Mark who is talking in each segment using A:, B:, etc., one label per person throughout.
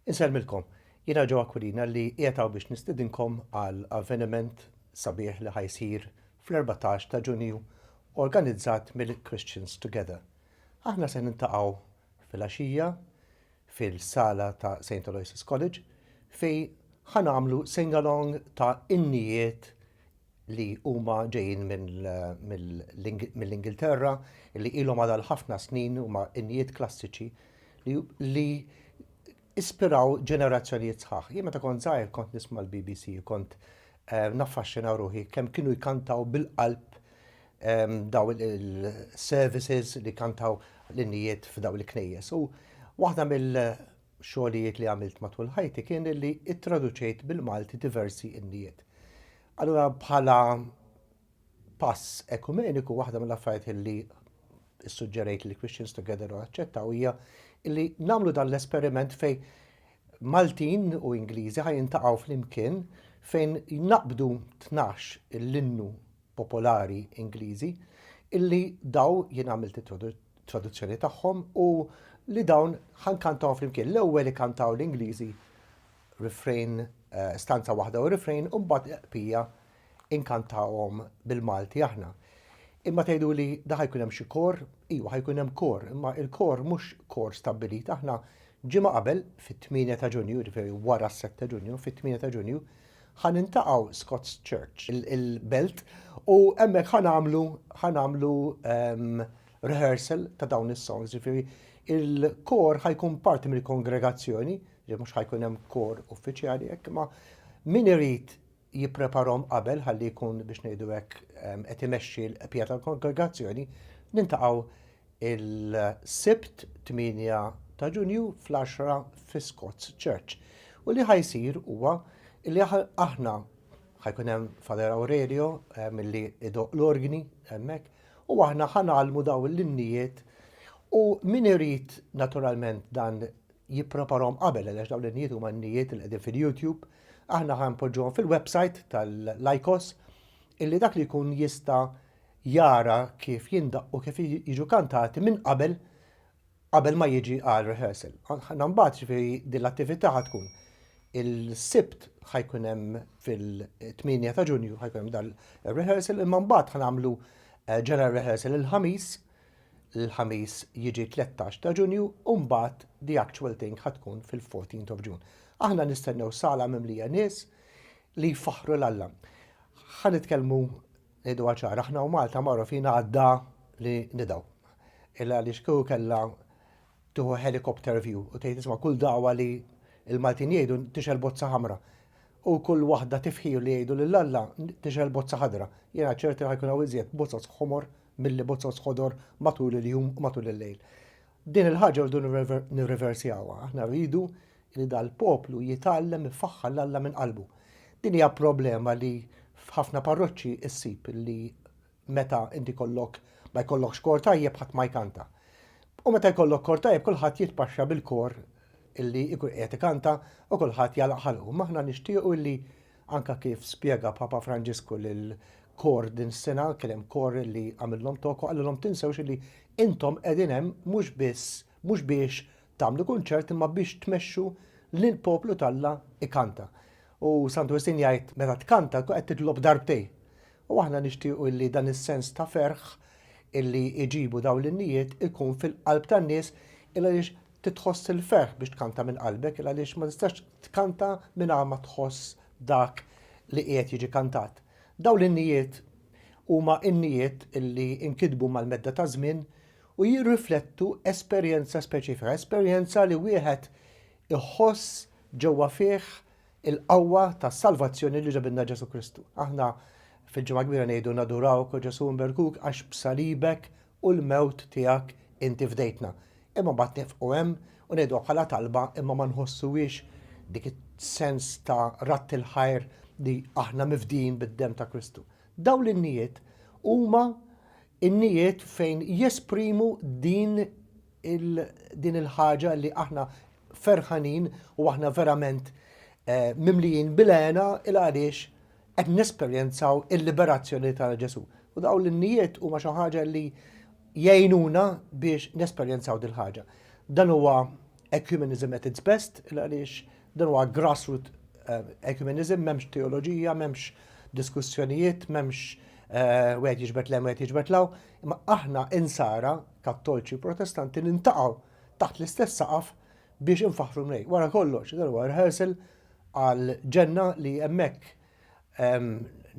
A: Insellmilkom, jiena Joe Aquilina li qiegħed hawn biex nistedinkom għal avveniment sabiħ li ħa jsir fl-erbatax ta' Ġunju organizzat mill-Christians Together. Aħna se niltaqgħu filgħaxija fil-sala ta' Saint Aloysius College fejn ħa nagħmlu sing-along ta' innijiet li huma ġejjin mill-Ingilterra li ilhom għal ħafna snin huma injiet klassiċi li ispiraw ġenerazzjonijiet sħaħ. Jien meta kont żgħir kont nisma' l-BBC, kont eh, naffaxxina ruħi kemm kienu jkantaw bil-qalb ehm, daw il-services li kantaw l-innijiet f'daw il-knejjes. U waħda mill- xogħlijiet li għamilt matul ħajti kien li ttraduċejt bil-Malti diversi innijiet. Allura bħala pass ekumeniku waħda mill-affarijiet li ssuġġerejt li Christians Together u aċċettaw hija li nagħmlu dan l-esperiment fej Maltin u Ingliżi ħaj jintaqgħu flimkien fejn jnaqbdu tnax l-innu popolari Ingliżi, illi daw, jien għamilt it-traduzzjoni tagħhom, u li dawn ħankantawhom flimkien. L-ewwel ikantaw l-Ingliżi refrain eh, stanza waħda u refrain u mbagħad qpija inkantawhom bil-Malti aħna. Imma tgħidu li da ħajkun hemm xi kor, iwa ħajkun hemm kor, imma il-kor mhux kor stabbilit aħna ġimgħa qabel fit-8 ta' Ġunju, jiġifieri wara s-7 ta' Ġunju, fit-8 ta' Ġunju, Ħa niltaqgħu Scots Church, il-belt, u hemmhekk ħa nagħmlu ħa nagħmlu ehm, rehearsal ta' dawn is-songs, ġifieri il-kor ħajkun parti mill-kongregazzjoni, li mhux ħajkun hemm kor uffiċjali hekk, ma min irid jippreparhom qabel ħalli jkun biex ngħidu hekk ehm, qed imexxi l-qpija tal-kongregazzjoni, nintaqgħu il-Sibt 8 ta' Ġunju fl-għaxra fi Scots Church. U li ħajsir huwa li aħna ħajkun hemm Father Aurelio eh, milli idoq l-orgni hemmhekk u aħna ħanalmu daw l-innijiet u min irid naturalment dan jippreparhom qabel għaliex dawn l-innijiet huma n-nijiet li qegħdin fil-YouTube aħna ħanpoġġuhom fil-website tal-Lycos illi dak li jkun jista' jara kif jindaqqu kif jiġu kantati minn qabel qabel ma jiġi għal rehearsal. Ħna mbagħad ġifieri din l-attività ħad tkun il-sibt ħajkun hemm fil-8 ta' Ġunju ħajkun hemm dan rehearsal imma mbagħad ħanamlu eh, general rehearsal il-ħamis l-ħamis jiġi 13 ta' Ġunju u mbagħad the actual thing ħad tkun fil-14 of June. Aħna nistennew sala mimlija nies li jfaħru l-Alla. Ħa nitkellmu Ngħiduha ċara, aħna u Malta magħrufin għad-dha li nidgħu. Illa għaliex kieku kellha tieħu helicopter view u tgħid isma' kull dagħwa li l-Maltin jgħidu tixgħel bozza ħamra. U kull waħda tifħir li jgħidu lil Alla tixgħel bozza ħadra. Jiena ċert li ħajkun hawn iżjed bozzoz ħomor milli bozzoz ħodor matul il-jum u matul il-lejl. Din il-ħaġa rridu nirriversjawha. Aħna rridu li dal-poplu jitgħallem ifaħħar l-Alla minn qalbu. Din hija problema li f'ħafna parroċċi ssib li meta inti kollok ma jkollokx kor tajjeb ħadd ma jkanta. U meta jkollok kor tajjeb kulħadd jitpaxxa bil-kor illi jkun qiegħed ikanta u kulħadd jagħlaq ħalqu. Imma aħna nixtiequ illi Anke kif spjega Papa Franġisku lil kor din is-sena, kien hemm kor li għamillhom talk u qalilhom tinsewx li intom qegħdin hemm mhux biss mhux biex tagħmlu kunċert imma biex tmexxu lill-poplu t'Alla jkanta. U Santu Wistin jgħid meta tkanta tkun qed titlob darbtejn. U aħna nixtiequ illi dan is-sens ta' ferħ illi jġibu dawn l-innijiet ikun fil-qalb tan-nies il għaliex Trid tħoss il-ferħ biex tkanta minn qalbek il għaliex ma tistax tkanta mingħajr ma tħoss dak li qiegħed jiġi kantat. Dawn l-innijiet huma innijiet li nkitbu mal-medda taż-żmien u jirriflettu esperjenza speċifika, esperjenza li wieħed iħoss ġewwa fih il-qawwa tas-salvazzjoni li ġabilna Ġesù Kristu. Aħna fil-Ġimgħa Kbira ngħidu nadurawk, O Ġesù, nberkuk għax b'salibek u l-mewt tiegħek inti fdejtna. Imma mbagħad nifqu hemm u ngħiduha bħala talba imma ma nħossuhiex dik is-sens ta' radd il-ħajr li aħna mifdijin bid-demm ta' Kristu. Dawn l-innijiet huma innijiet fejn jesprimu din din il-ħaġa li aħna ferħanin u aħna verament eh, mimlijin bil-għena il għaliex qed nesperjenzaw il-liberazzjoni ta' Ġesù. U dawn l-innijiet huma xi ħaġa li jgħinuna biex nesperjenzaw dil-ħaġa. Dan huwa ecumenism at its best, għaliex dan huwa grassroot eh, ecumenism, memx teoloġija, memx diskussjonijiet, memx eh, wieħed jiġbet lem, wieħed jiġbet law, imma aħna insara, kattolċi, protestanti, nintaqaw taħt l-istess saqaf biex infaħru mnej. Wara kollox, dan huwa rehearsal għal ġenna li hemmhekk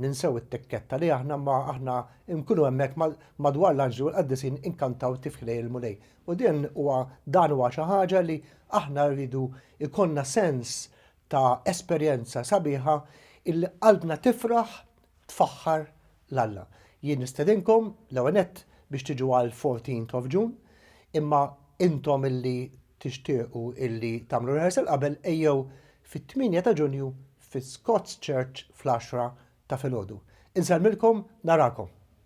A: ninsew it-tikketta li aħna ma aħna nkunu hemmhekk madwar l-anġli u l-qaddisin inkantaw tifħi lejn il-Mulej. U din huwa dan huwa xi ħaġa li aħna rridu jkollna sens ta' esperjenza sabiħa illi qalbna tifraħ tfaħħar l-Alla. Jien nistedinkom, l-ewwel nett, biex tiġu għall-fourteenth of June, imma intom illi tixtiequ illi tagħmlu rehearsal qabel ejjew fit-tmienja ta' Ġunju fi Scots Church fl-għaxra ta' filgħodu. Insellmilkom, narakom!